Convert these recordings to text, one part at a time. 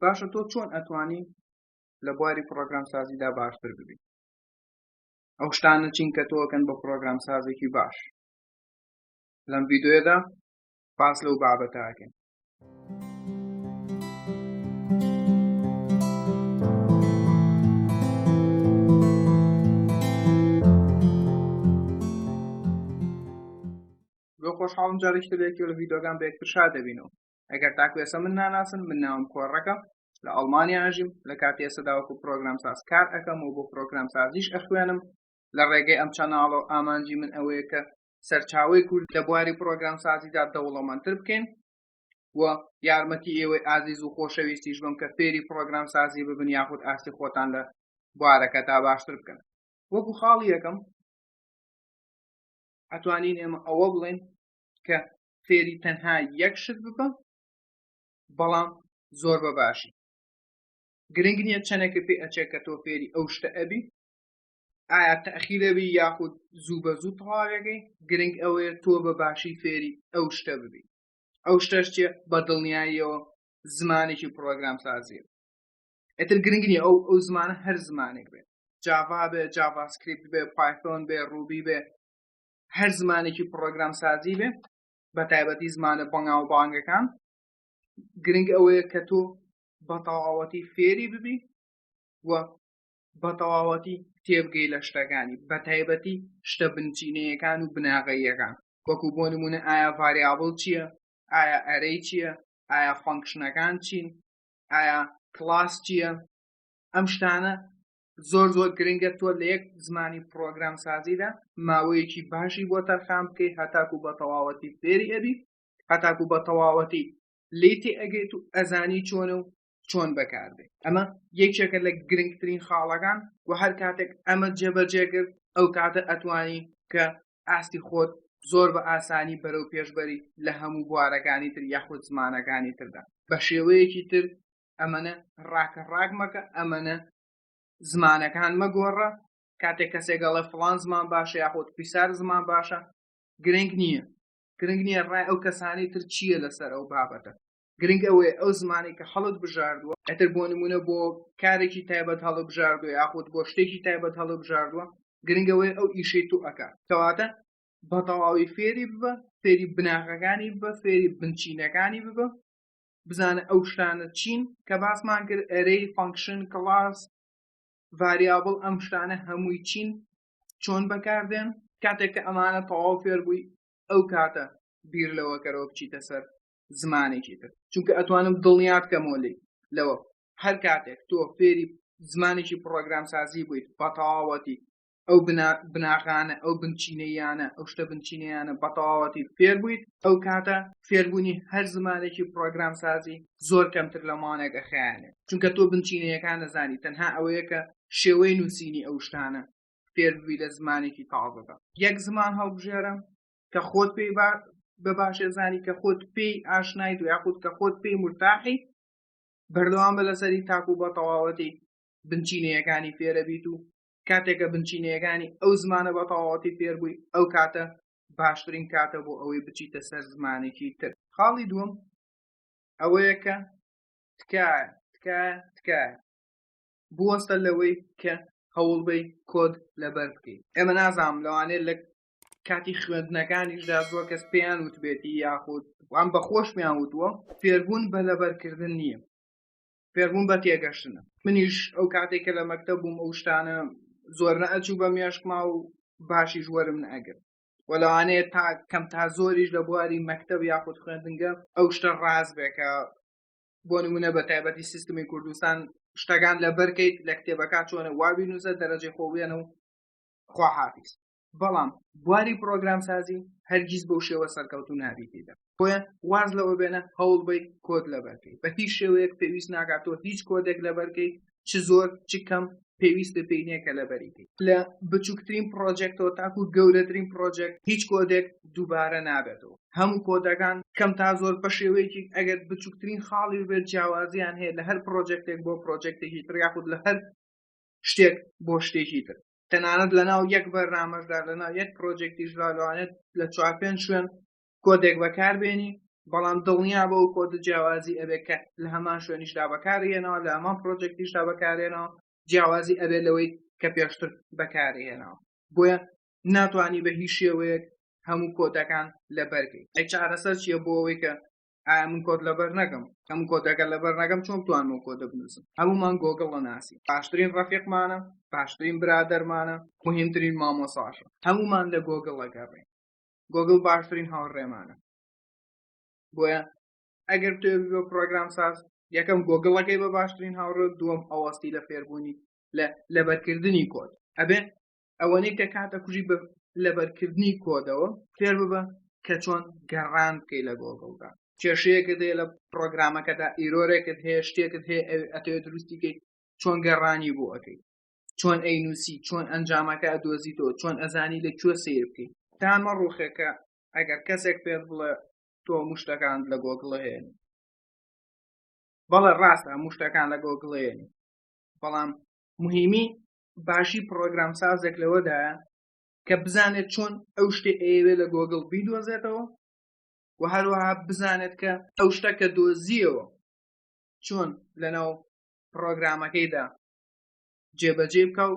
باشە تۆ چۆن ئەتوانی لە بواری پرۆگرام سازیدا باشتر ببی ئەو شتانە چین کە تۆکەن بە پرۆگرام سازێکی باش لەم ڤیددیوەدا باس لەو بابەتاکەن خۆشحاڵم جارێکی لەکی لە ڤیددیوگان بە یەکتر شار دەبینەوە ئەگەر تاکو ئێستا من ناناسن من ناوم کۆڕەکە لە ئەڵمانیا ئەژیم لە کاتی ئێسەداوەکو پرۆگرام ساز کار ئەەکەم و بۆ پرۆگرام سازیش ئەخوێنم لە ڕێگەی ئەم چەناڵە و ئامانجی من ئەوەیە کە سەرچاوی کورد لە بواری پرۆگرام سازیدا دەوڵەمەندتر بکەین و یارمەتی ئێوەی ئازیز و خۆشەویستیش بم کە فێری پرۆگرام سازی ببن یاخود ئاستی خۆتان لە بوارەکە تا باشتر بکەن وەکو خاڵی یەکەم ئەتوانین ئێمە ئەوە بڵێن کە فێری تەنها یەک شت ببە بەڵام زۆر بە باشی گرنگ نییە چەنێکە پێ ئەچێت کە تۆ فێری ئەو شتە ئەبی ئایا تەخیرەبی یاخود زوو بە زوو تەواوێگەی گرنگ ئەوەیە تۆ بە باشی فێری ئەو شتە ببی ئەو شتەش چێ بە دڵنیاییەوە زمانێکی پرۆگرام سازیە ئەتر گرنگ نیە ئەو ئەو زمانە هەر زمانێک بێت جاوا بێ جاواسکریپت بێ پایتۆن بێ ڕوبی بێ هەر زمانێکی پڕۆگرام سازی بێ بە تایبەتی زمانە بەنگاو بانگەکان گرنگ ئەوەیە کە تۆ بە تەواوەتی فێری ببی و بە تەواوەتی تێبگەی لە شتەکانی بە تایبەتی شتە بنچینەیەکان و بناغەیەکان وەکو بۆ نمونە ئایا ڤریابل چییە ئایا ئەرەی چییە ئایا فەنکشنەکان چین ئایا کلاس چییە ئەم شتانە زۆر زۆر گرنگە تۆ لە یەک زمانی پرۆگرام سازیدا ماوەیەکی باشی بۆ تەرخان بکەی هەتاکو بە تەواوەتی فێری ئەبی هەتاکو بە تەواوەتی لی تێ ئەگەیت و ئەزانی چۆنە و چۆن بەکاردێت ئەمە یەکێکە لە گرنگترین خاڵەکان و هەر کاتێک ئەمە جێبەجێگرت ئەو کاتە ئەتوانی کە ئاستی خۆت زۆر بە ئاسانی بەرەو پێشبەری لە هەموو بوارەکانی تر یاخود زمانەکانی تردا بە شێوەیەکی تر ئەمەە ڕاکە ڕاک مەکە ئەمەە زمانەکان مەگۆڕە کاتێک کەسێکگەڵە فلان زمان باشە یاخۆت پیسار زمان باشە گرنگ نییە گرنگ نییە ڕای ئەو کەسانی تر چییە لەسەر ئەو بابەتە گرنگ ئەوەیە ئەو زمانی کە هەڵت بژاردووە ئەتر بۆ نمونە بۆ کارێکی تایبەت هەڵە بژاردووە یاخود بۆ شتێکی تایبەت هەڵە بژاردووە گرنگەوەی ئەو ئیشەی تو ئەکات کەواتە بە تەواوی فێری ببە فێری بناغەکانی ببە فێری بنچینەکانی ببە بزانە ئەو شتانە چین کە باسمان کرد ئەرەی فانکشن کڵاس ڤریابڵ ئەم شتانە هەمووی چین چۆن بەکاردێن کاتێک کە ئەمانە تەواو فێر بووی ئەو کاتە بیر لەوە کەرەوە بچیتە سەر زمانێکی تر چونکە ئەتوانم دڵنیات کەمەوە لی لەوە هەر کاتێک تۆ فێری زمانێکی پرۆگرام سازی بوویت بەتەواوەتی ئەو بناغانە ئەو بنچینەیانە ئەو شتە بنچینەیانە بەتەواوەتی فێر بوویت ئەو کاتە فێربوونی هەر زمانێکی پرۆگرام سازی زۆر کەمتر لە مانێک ئەخیانێت چونکە تۆ بنچینەیەکان نەزانی تەنها ئەوەیە کە شێوەی نووسینی ئەو شتانە فێربووی لە زمانێکی تازەدا یەک زمان هەڵبژێرە کە خۆت پێی بە باشێ زانی کە خۆت پێی ئاشنایت و یاخود کە خۆت پێی مرتاحی بەردەوام بە لەسەری تاکو بە تەواوەتی بنچینەیەکانی فێرە بیت و کاتێک کە بنچینەیەکانی ئەو زمانە بە تەواوەتی فێربووی ئەو کاتە باشترین کاتە بۆ ئەوەی بچیتە سەر زمانێکی تر خاڵی دووەم ئەوەیە کە تکایە تکایە تکایە بوەستە لەوەی کە هەوڵبەی کۆد لەبەر بکەیت ئێمە نازانم لەوانێت لە کاتی خوێندنەکانیشدا زۆر کەس پێیان وتبێتی یاخود وان بەخۆش پێیان وتووە فێربوون بە لەبەرکردن نییە فێربوون بە تێگەشتنە منیش ئەو کاتێک کە لە مەکتە بووم ئەو شتانە زۆر نەئەچوو بە مێشکما و باشیش وەرم نەگرت و لەوانەیە تا کەم تا زۆریش لە بواری مەکتب یاخود خوێندنگە ئەو شتە ڕاز بێکە بۆ نمونە بە تایبەتی سیستمی کوردستان شتەکان لە بەرکەیت لە کتێبەکە چۆنە وابی نووسە دەرەجەی خۆبێنە و خواحافیست بەڵام بواری پرۆگرامسازی هەرگیز بەو شێوە سەرکەوتو نابیتیدا بۆیە واز لەوە بێنە هەوڵ بی کۆد لەبەرکەی بە هیچ شێوەیەک پێویست ناگاتۆ هیچ کۆدێک لەبەرکەی چ زۆر چ کەم پێویست بە پێینە کە لەبەریتی لە بچووکترین پرۆژێکتەوە تاکو گەورەترین پرۆژێک هیچ کۆدێک دووبارە نابێتەوە هەموو کۆدەکان کەم تا زۆر بە شێوەیەکی ئەگەر بچووکترین خاڵی بێت جیاوازیان هەیە لە هەر پرۆژێکتێک بۆ پرۆژێکتێکی تر یاخود لە هەر شتێک بۆ شتێکی تر تەنانەت لەناو یەک بەرنامەشدا لەناو یەک پرۆجێکتیشدا لەوانێت لە چوار پێنج شوێن کۆدێک بەکاربێنی بەڵام دڵنیا بە و کۆدە جیاوازی ئەبێ کە لە هەمان شوێنیشدا بەکارهێنەوە لە هەمان پرۆجێکتیشدا بەکارێنەوە جیاوازی ئەبێ لەوەی کە پێشتر بەکارهێنەوە بۆیە ناتوانانی بە هیچ شێوەیەک هەموو کۆدەکان لە بەرگی ئەی چارەسەر چییە بۆ ئەوەی کە ئایا من کۆت لەبەر نەکەم کەم کۆدەکە لەبەر نەکەم چۆن توان و کۆدە بنووسم هەمومان گۆگڵە ناسی باشترین ڕفیقمانە باشترین برادەرمانە مهمترین مامۆساشە هەمومان لە گۆگڵەکە ڕێ گۆگل باشترین هاوڕێمانە بۆیە ئەگەر توێ بۆ پرۆگرام ساز یەکەم گۆگڵەکەی بە باشترین هاوڕێ دووەم ئەوەستی لە فێربوونی لە لەبەرکردنی کۆت ئەبێ ئەوەنەی کە کاتە کوژی بە لەبەرکردنی کۆدەوە فێر ببە کە چۆن گەڕان بکەی لە گۆگڵدا کێشەیەکت هەیە لە پرۆگرامەکەدا ئیرۆرێکت هەیە شتێکت هەیە ئەتەوێت دروستیکەی چۆن گەڕانی بۆ ئەەکەی چۆن ئەی نووسی چۆن ئەنجامەکە دۆزیتەوە چۆن ئەزانی لە کوێ سیر بکەیت تامە ڕوخێکە ئەگەر کەسێک پێت بڵێ تۆ مشتەکان لە گۆگڵە هەیە بەڵێ ڕاستە مشتەکان لە گۆگڵێن بەڵام مهمی باشی پرۆگرام سازێک لەوەدایە کە بزانێت چۆن ئەو شتێ ئەیەوێ لە گۆگڵ بیدۆزێتەوە و هەروەها بزانێت کە ئەو شتە کە دۆزیەوە چۆن لەناو پرۆگرامەکەیدا جێبەجێ بکە و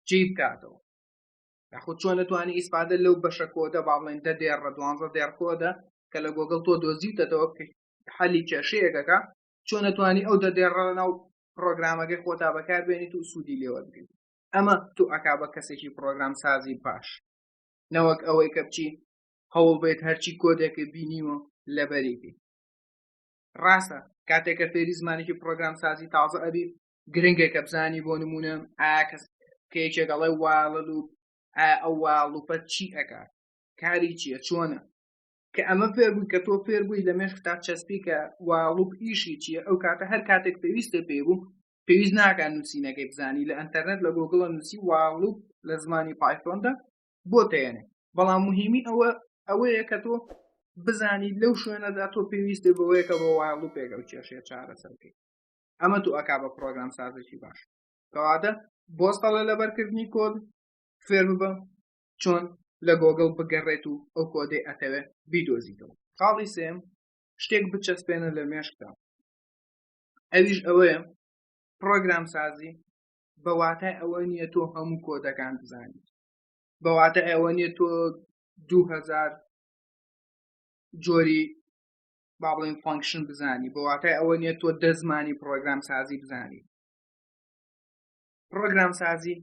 جێ بکاتەوە یاخود چۆن نتوانانی ئیسپادە لەو بەشە کۆدە با بڵێن دە دێڕ ڕە دوانزە دێڕ کۆدە کە لە گۆگڵ تۆ دۆزیوتەتەوە حەلی کێشەیەکەکە چۆن نتوانانی ئەو دە دێڕە ناو پرۆگرامەکەی خۆتا بەکاربێنیت و سوودی لێوەگریت ئەمە تو ئەکا بە کەسێکی پرۆگرام سازی باش نەوەک ئەوەی کە بچی هەوڵ بێت هەرچی کۆدێکی بینیوە لەبەریبی ڕاستە کاتێکە فێری زمانێکی پرۆگرام سازی تازە ئەبی گرنگە کە بزانی بۆ نمونە ئاکەس کە یەکێکەڵێ واڵە و ئەو واڵوپەت چی ئەکات کاری چییە چۆنە کە ئەمە فێربووی کە تۆ فێربووی لە مێشکتا چەسپیکە و ڵوپ ئیشی چییە ئەو کاتە هەر کاتێک پێویستە پێ بوو پێویست ناکە نووسینەکەی بزانی لە ئەتەرنێت لە گۆگڵە نووسی واڵوپ لە زمانی پایفۆندا بۆ تێنێ بەڵام مهمی ئەوە ئەوەیە کە تۆ بزانی لەو شوێنەدا تۆ پێویستە بەوەیە کە بۆ واڵوپێک ئەو کێشێ چارەسەرکەی ئەمە تو ئەک بە پرۆگرام سازێکی باش کەوادە بۆستەڵە لەبەرکردنی کۆد فێر ببە چۆن لە گۆگڵ بگەڕێت و ئەو کۆدەی ئەتەوێت بیدۆزیتەوە خاڵی سێم شتێک بچەسپێنە لە مێشکدا ئەویش ئەوەیە پرۆگرام سازی بە واتای ئەوە نییە تۆ هەموو کۆدەکان بزانیت بە واتە ئەوە نییە تۆ دوهزار جۆری با بڵێن فانکشن بزانی بە واتای ئەوە نییە تۆ دەزمانی پرۆگرام سازی بزانی پرۆگرام سازی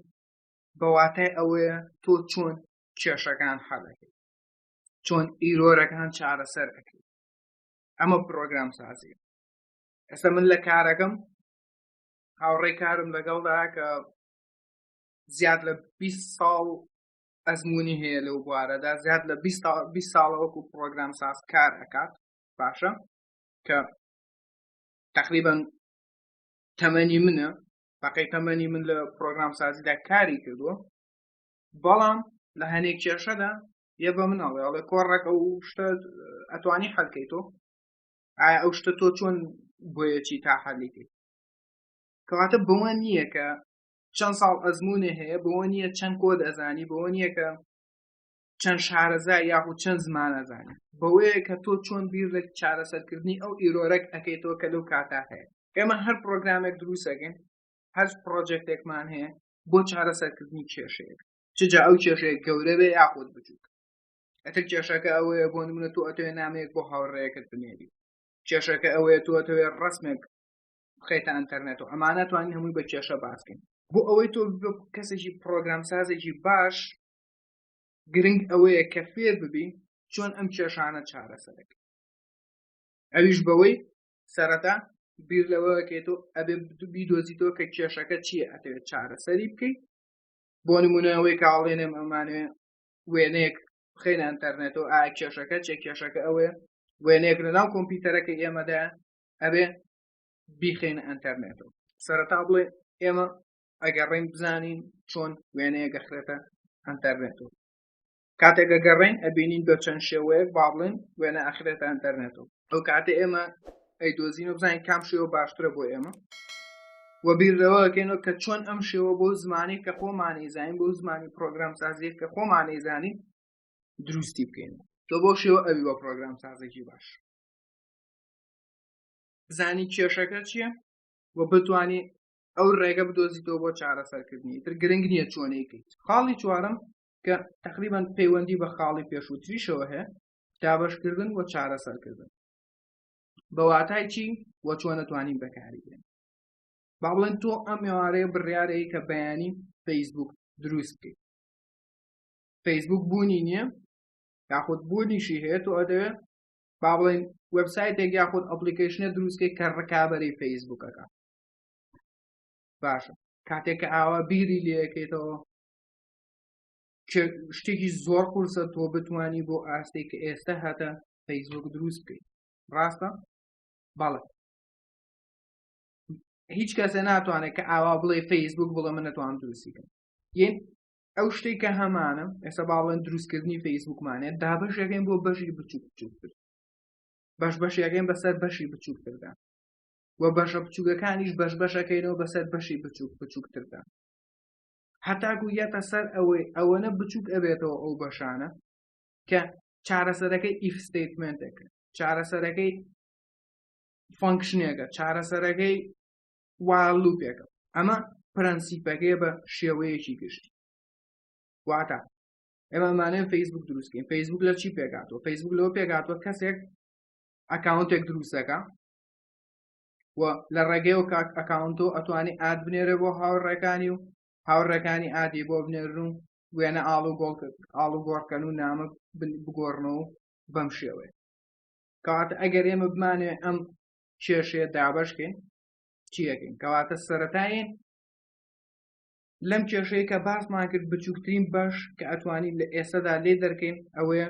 بە واتای ئەوەیە تۆ چۆن کێشەکان حەلەکەی چۆن ئیرۆرەکان چارەسەر ئەەکەی ئەمە پرۆگرام سازی ئێستا من لە کارەکەم هاوڕێی کارم لەگەڵدا کە زیاد لە 20 ساڵ ئەزمموی هەیە لەو بوارەدا زیاد لە 20 ساڵە وەکو پرۆگرام ساز کار ئەکات باشە کە تقریبان تەمەنی منە تاقەی تەمەنی من لە پرۆگرام سازیدا کاری کردووە بەڵام لە هەنێک کێشەدا یە بە مناڵێ ئەڵێ کۆڕەکە و شتە ئەتوانی حەلکەی تۆ ئایا ئەو شتە تۆ چۆن بۆیەکی تا حەلیکەی کەواتە بەوە نییە کە چەند ساڵ ئەزمونێ هەیە بەوە نییە چەند کۆ دەزانی بەوە نییە کە چەند شارەزا یاخود چەند زمانەزانە بەوەیە کە تۆ چۆن بیر لە چارەسەرکردنی ئەو ئیرۆرەک ئەەکەیتەوە کە لەو کاتا هەیە ئێمە هەر پرۆگرامێک دروستەکەین هەر پرۆژێکتێکمان هەیە بۆ چارەسەرکردنی کێشەیەک چجا ئەو کێشەیە گەورە بێ یاخود بچووک ئەتر کێشەکە ئەوەیە بۆ نمونە تۆ ئەتوێ نامەیەک بۆ هاوڕێیەکەت بنێری کێشەکە ئەوەیە تۆ ئەتەوێ ڕسمێک بخیتە ئەتەرنێت و ئەمانە توانین هەمووی بە کێشە باسکەین بۆ ئەوەی تۆ کەسێکی پرۆگرام سازێکی باش گرنگ ئەوەیە کە فێر ببین چۆن ئەم کێشانە چارەسەرەکە ئەویش بەوەی سەرەتا بیر لەوەکێتەوە ئەبێ بیدۆزیتەوە کە کێشەکە چییە ئەتەوێت چارەسەری بکەیت بۆ نمونەوەی کاڵێنێ ئەمانێ وێنەیەک بخین ئەتەرنێتەوە ئا کێشەکە چێ کێشەکە ئەوەیە وێنەیەک لە ناو کۆمپیوتەرەکە ئێمەدا ئەبێ بیخین ئەتەرنێتەوە سەرەتا بڵێ ئێمە ئەگەڕین بزانین چۆن وێنەیە گەخرێتە ئەتەرنێتەوە کاتێک گەگەڕین ئەبینین بە چەند شێوەیەک با بڵێن وێنە ئەخرێتە ئەتەرنێتەوە ئەو کاتێ ئێمە ئەی دۆزینەوە بزانین کام شێوە باشترە بۆ ئێمە وە بیرەوەکەینەوە کە چۆن ئەم شێوە بۆ زمانی کە خۆمانی زانین بۆ زمانی پرۆگرام سازیە کە خۆمانی زانین دروستی بکەین تۆ بۆ شێوە ئەوی بە پرۆگرام سازێکی باش زانی کێشەکە چییە و بتانی ئەو ڕێگە بدۆزیتەوە بۆ چارەسەرکردنی تر گرنگ نییە چۆنەی کرد خاڵی چوارم کە تقریبان پەیوەندی بە خاڵی پێشووتریشەوە هەیە دابشکردن و چارەسەرکردن بەواتای چی و چۆنەتوانین بەکاری بێن با بڵێن تۆ ئەم مێوارەیە بڕیارەیە کە بەیانی فەیسبوک دروست بکەیت فەیسبوک بوونی نییە یاخود بوونیشی هەیە تۆ ئەدەوێ با بڵێن وبسایتێک یاخود ئەپلیکیشنە دروستکەی کە ڕکابەری فەیسبوکەکە باشە کاتێک کە ئاوا بیری لەکەیتەوە شتێکی زۆر قورسە تۆ بتانی بۆ ئاستێک کە ئێستا هاتە فەیسبوک دروست بکەیت ڕاستە بەڵێ هیچ کەسە ناتوانێت کە ئاوا بڵێ فەیسبوک بڵێ من نەتوان دروستیکەم یەن ئەو شتێک کە هەمانە ئێستا باڵێن دروستکردنی فەیسبوکمانێت دا بەشەکەین بۆ بەشی بچووک بچووکتر بەش بەشیەکەین بەسەر بەشی بچووکتردا و بەشە بچووکەکانیش بەش بەشەکەینەوە بەسەر بەشی بچووک بچووکتردا هەتاکو یەتە سەر ئەوەی ئەوەنە بچووک ئەبێتەوە ئەو بەشانە کە چارەسەرەکەی ئیف ستیتمنتێکە چارەسەرەکەی فەنکشنێکە چارەسەرەکەی والوپێکە ئەمە پرەنسیپەکەی بە شێوەیەکی گشت واتە ئێمەمانێن فەیسبوک دروستکەین فەیسبوک لە چی پێکاتەوە فەیسبوک لەوە پێکاتوە کەسێک ئەکاونتێک دروستەکە و لە ڕێگەی و کاک ئەکاونتۆ ئەتوانی ئاد بنێرە بۆ هاوڕێکانی و هاوڕێکانی ئادی بۆ بنێرن و وێنە ئاڵ و گۆڵ ئاڵ و گۆڕکەن و نامە بگۆڕنەوە و بەم شێوەیە کەواتە ئەگەر ئێمە بمانێ ئەم کێشەیە دابشکەین چیەکەین کەواتە سەتاین لەم کێشەیە کە باسمان کرد بچووکترین باش کە ئەتوانین لە ئێستادا لێ دەرکەین ئەوەیە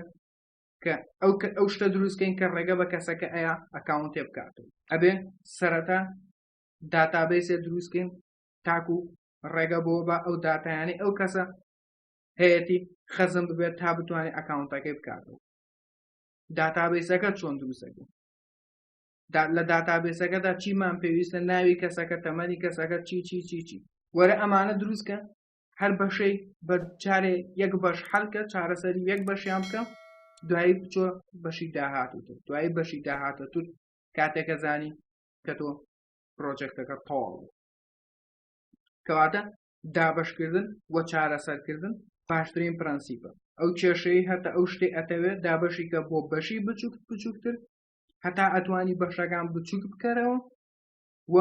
کە ئەو کە ئەو شتە دروستکەین کە ڕێگە بە کەسەکە ئەیە ئەکاونتێ بکات و ئەبێ سەرەتا داتابیسێ دروستکەین تاکو ڕێگە بۆ بە ئەو داتایانی ئەو کەسە هەیەی خەزم ببێت تا بتوانێت ئەکاونتەکەی بکاتەوە داتابیسەکە چۆن دروستەکە لە داتابێسەکەدا چیمان پێویستە ناوی کەسەکە تەمەنی کەسەکە چی چی چی چی وەرە ئەمانە دروستکە هەر بەشەی بە جارێ یەک بەش حەلکە چارەسەری یەک بەشیان بکە دوایی بچۆ بەشی داهاتوتر دوایی بەشی داهاتەتر کاتێکە زانی کە تۆ پرۆژێکتەکە تەواو کەواتە دابشکردن و چارەسەرکردن باشترین پرەنسیپە ئەو کێشەی هەتا ئەو شتێ ئەتەوێت دابشی کە بۆ بەشی بچووک بچووکتر هەتا ئەتوانی بەشەکان بچووک بکەرەوە و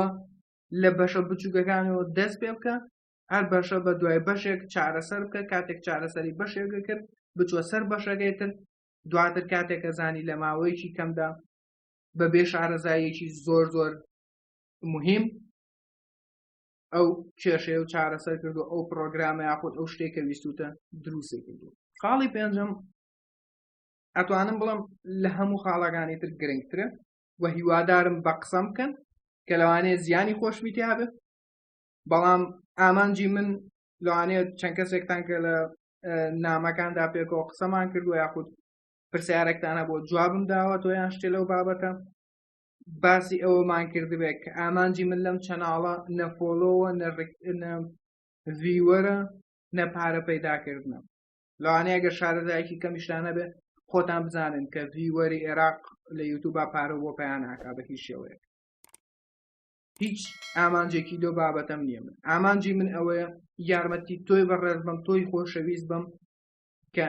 لە بەشە بچووکەکانەوە دەست پێ بکە هەر بەشە بە دوای بەشێک چارەسەر بکە کاتێک چارەسەری بەشێکە کرد بچوە سەر بەشەکەی تر دواتر کاتێکە زانی لە ماوەیەکی کەمدا بە بێ شارەزاییەکی زۆر زۆر مهم ئەو کێشەیە و چارەسەر کردو ئەو پرۆگرامە یاخود ئەو شتێکە ویستوتە دروستی کردو خاڵی پێنجم ئەتوانم بڵم لە هەموو خاڵەکانی تر گرنگترە و هیوادارم بە قسەم بکەن کە لەوانەیە زیانی خۆشمیتیا بێت بەڵام ئامانجی من لەوانەیە چەند کەسێکتان کە لە نامەکاندا پێکەوە قسەمان کردو یاخود پرسیارێکتانە بۆ جوابم داوە تۆ یان شتێ لەو بابەتە باسی ئەوەمان کردبێت کە ئامانجی من لەم چەناڵە نەفۆلۆوە ڤیوەرە نە پارە پەیداکردنە لەوانەیە گە شارەزایکی کەمیشتانە بێ خۆتان بزانن کە ڤیوەری عێراق لە یوتوبا پارە بۆ پێیان ناکا بە هیچ شێوەیە هیچ ئامانجێکی لۆ بابەتەم نییە من ئامانجی من ئەوەیە یارمەتی تۆی بەڕێز بم تۆی خۆشەویست بم کە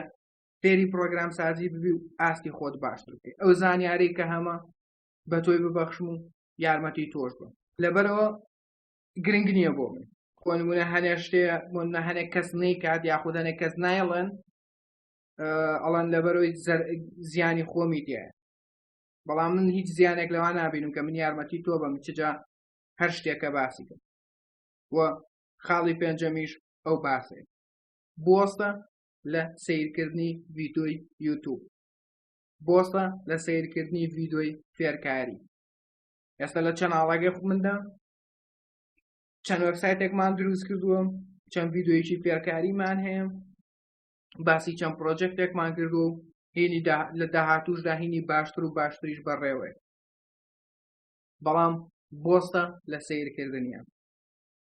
فێری پرۆگرام سازی ببی و ئاستی خۆت باشتر بکەی ئەو زانیاری کە هەمە بە تۆی ببەخشم و یارمەتی تۆش بم لەبەرەوە گرنگ نییە بۆ من خۆنمونە هەنێ شتێ منە هەنێک کەس نەی کات یاخود هەنێک کەس نایڵێن ئەڵەن لەبەرەوەی زیانی خۆمی دیە بەڵام من هیچ زیانێک لەوا نابینم کە من یارمەتی تۆ بەم چجا هەر شتێکە باسی کرد و خاڵی پێنجەمیش ئەو باسێ بۆستە لە سیرکردنی ڤیدۆی یوتوب بۆستە لە سیرکردنی ڤیدۆی فێرکاری ئێستا لە چەناڵەگە مندا چەند وەبسایتێکمان دروست کردووە چەند ڤیددیویی فێرکاریمان هەیە باسی چەند پرۆجێکتێکمان کرد و هینی لە داهاتوشدا هینی باشتر و باشتریش بەڕێوەیە بەڵام بۆستە لە سیرکردنیان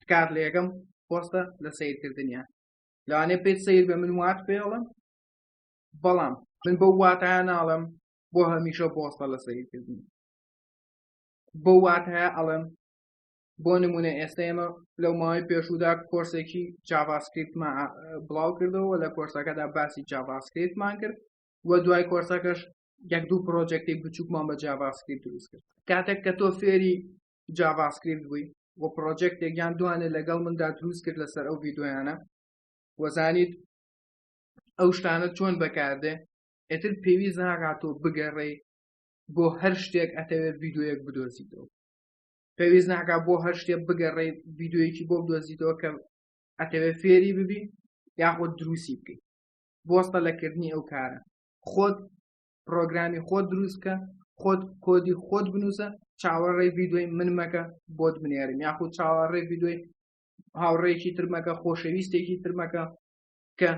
تکات لە یەکەم پۆستە لە سیرکردنیان لەوانێ پێت سیر بە من وات پێڵم بەڵام من بە واتایە ناڵم بۆ هەمیشە بۆستە لە سیرکردنی بۆ واتایە ئەڵم بۆ نمونە ئێستا ئێمە لەو ماوەی پێشودا کۆرسێکی جاڤاسکریپتمان بڵاو کردەوە لە کۆرسەکەدا باسی جاڤاسکریپتمان کرد و دوای کۆرسەکەش یەک دوو پرۆژێکتی بچووکمان بە جاڤاسکریپت دروست کرد کاتێک کە تۆ فێری جاڤاسکریپت بووی و پرۆژێکتێک یان دوانێ لەگەڵ مندا دروست کرد لەسەر ئەو ڤیددیویانە وەزانیت ئەو شتانە چۆن بەکاردێ ئەتر پێویست ناگاتۆ بگەڕێی بۆ هەر شتێک ئەتەوێت ڤیددیوەک بدۆزیتەوە پێویست ناکە بۆ هەر شتێ بگەڕێ ڤیددیویی بۆ دۆزیتەوە کە ئەتەوێ فێری ببی یاخۆ دروستی بکەیت بۆستە لەکردنی ئەو کارە خۆت پرۆگرامی خۆت دروستکە خۆت کۆدی خۆت بنووسە چاوەڕێ ڤیددیوی من مەکە بۆت بنێرم یاخود چاوەڕێ ڤیددیوی هاوڕێکی ترمەکە خۆشەویستێکی ترمەکە کە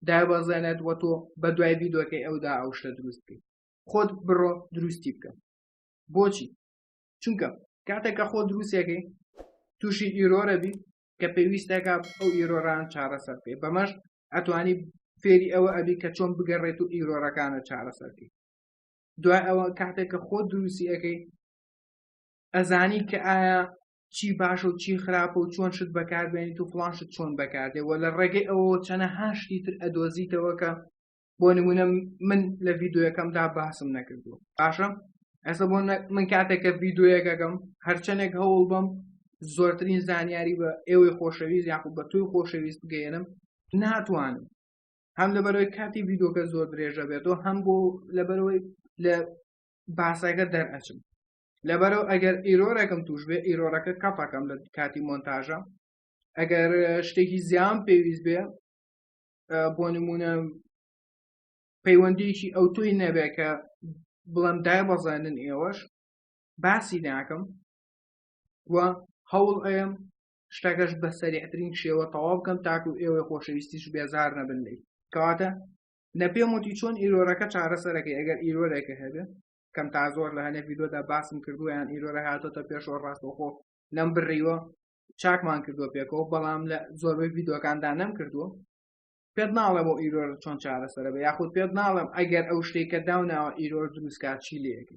دابەزێنێت وە تۆ بە دوای ڤیددیوەکەی ئەودا ئەو شتە دروست بکەیت خۆت بڕۆ دروستی بکە بۆچی چونکە کاتێک کە خۆ دروستەکەی تووشی ئیرۆرە بی کە پێویستەکە ئەو ئیرۆران چارەسەر بکەی بەمەش ئەتوانی فێری ئەوە ئەبی کە چۆن بگەڕێت و ئیرۆرەکانە چارەسەرکەی دوای ئەوە کاتێک کە خۆ دروستی ئەەکەی ئەزانی کە ئایا چی باش و چی خراپە و چۆن شت بەکاربێنیت و فلانشت چۆن بەکاردێ و لە ڕێگەی ئەوە چەنە هاشتی تر ئەدۆزیتەوە کە بۆ نمونە من لە ڤیددیوەکەمدا باسم نەکردو باشە ئەسە بۆ من کاتێکە ڤیددیوەکەگەم هەرچەندێک هەوڵ بم زۆرترین زانیاری بە ئێوەی خۆشەویست یاخود بە توی خۆشەویست بگەێنم ناتوانم هەم لەبەرەوەی کاتی ڤیددیوکە زۆر درێژە بێتەوە هەم بۆ لەبەرەوەی لە باسەکە دەرئەچم لەبەرەوە ئەگەر ئیرۆرەکەم توش بێ ئیرۆرەکە کەپەکەم لە کاتی مۆنتاژە ئەگەر شتێکی زیان پێویست بێ بۆ نمونە پەیوەندیکی ئەو توی نەبێ کە بڵم دای بەزانن ئێوەش باسی ناکەم و هەوڵ ئەم شتەکەش بە سەریعترین شێوە تەواو بکەم تاکو ئێوەی خۆشەویستیش بێزار نەبن لی کەواتە نە پێم وتی چۆن ئیرۆرەکە چارەسەرەکەی ئەگەر ئیرۆرێکە هەبێ کەم تا زۆر لە هەنێ ویدۆدا باسم کردویان ئیرۆرە هاتۆتە پێشەوە ڕاستەخۆ لەم بڕیوە چاکمان کردووە پێکەوە بەڵام لە زۆربەی ڤیددیوەکاندا نەم کردووە پێت ناڵێ بۆ ئیرۆر چۆن چارەسەرە بە یاخود پێت ناڵم ئەگەر ئەو شتێکە داوناوە ئیرۆر دروستکار چی لەکە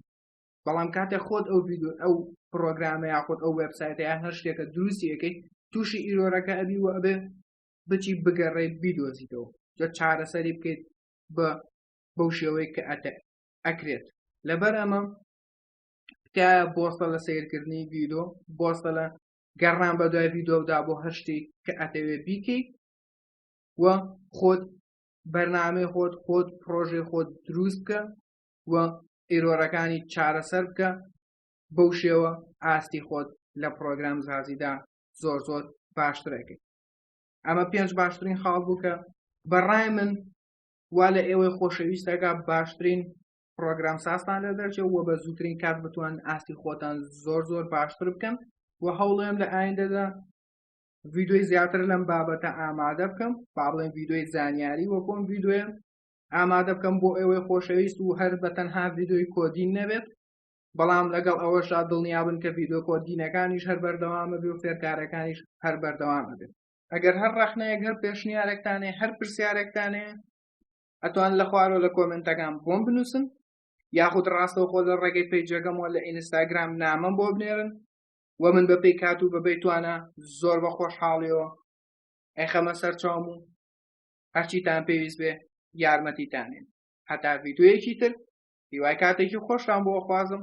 بەڵام کاتێ خۆت ئەو ڤیددیو ئەو پرۆگرامە یاخود ئەو وبسایتە یا هەر شتێکە دروستیەکەی تووشی ئیرۆرەکە ئەبی و ئەبێ بچی بگەڕێ بیدۆزیتەوە جە چارەسەری بکەیت بە بەو شێوەی کە ئەتە ئەکرێت لەبەر ئەمە تکایە بۆسە لە سیرکردنی ڤیدۆ بۆسە لە گەڕان بە دوای ڤیدۆدا بۆ هەر شتێک کە ئەتەوێت بیکەیت و خۆت بەرنامەی خۆت خۆت پرۆژێ خۆت دروست بکە و ئیرۆرەکانی چارەسەر بکە بەو شێوە ئاستی خۆت لە پرۆگرام زازیدا زۆر زۆر باشترەکەی ئەمە پێنج باشترین خاڵ بوو کە بەڕای من وا لە ئێوەی خۆشەویستەکە باشترین پرۆگرام سازتان لە دەرچێ و بە زووترین کات بتوان ئاستی خۆتان زۆر زۆر باشتر بکەن و هەوڵێم لە ئایندەدا ڤیددیوی زیاتر لەم بابەتە ئامادە بکەم باڵێن ڤیددیوی زانیاری وەکۆم ڤیددیوێ ئامادە بکەم بۆ ئێوەی خۆشەویست و هەر بە تەنها ڤیددیوی کۆدین نەبێت بەڵام لەگەڵ ئەوەشا دڵنیابن کە ڤیددیو کۆدینەکانیش هەر بەردەوامە بێ و فێرکارەکانیش هەر بەردەوامە بێت ئەگەر هەر ڕەخنەیەک هەر پێشنیارێکتانێ هەر پرسیارێکتانێ ئەتوان لە خوارۆ لە کۆمنتەکان بۆم بنووسن یاخود ڕاستەوخۆ لە ڕێگەی پەیجەکەمەوە لە ئینستاگرام نامەم بۆ بنێرن و من بە پێی کات و بەبێ توانە زۆر بە خۆشحاڵیەوە ئەیخەمە سەرچاوم و هەرچیتان پێویست بێ یارمەتیتانێن هەتا ڤیددیوەکی تر هیوای کاتێکی خۆشتان بۆ خوازم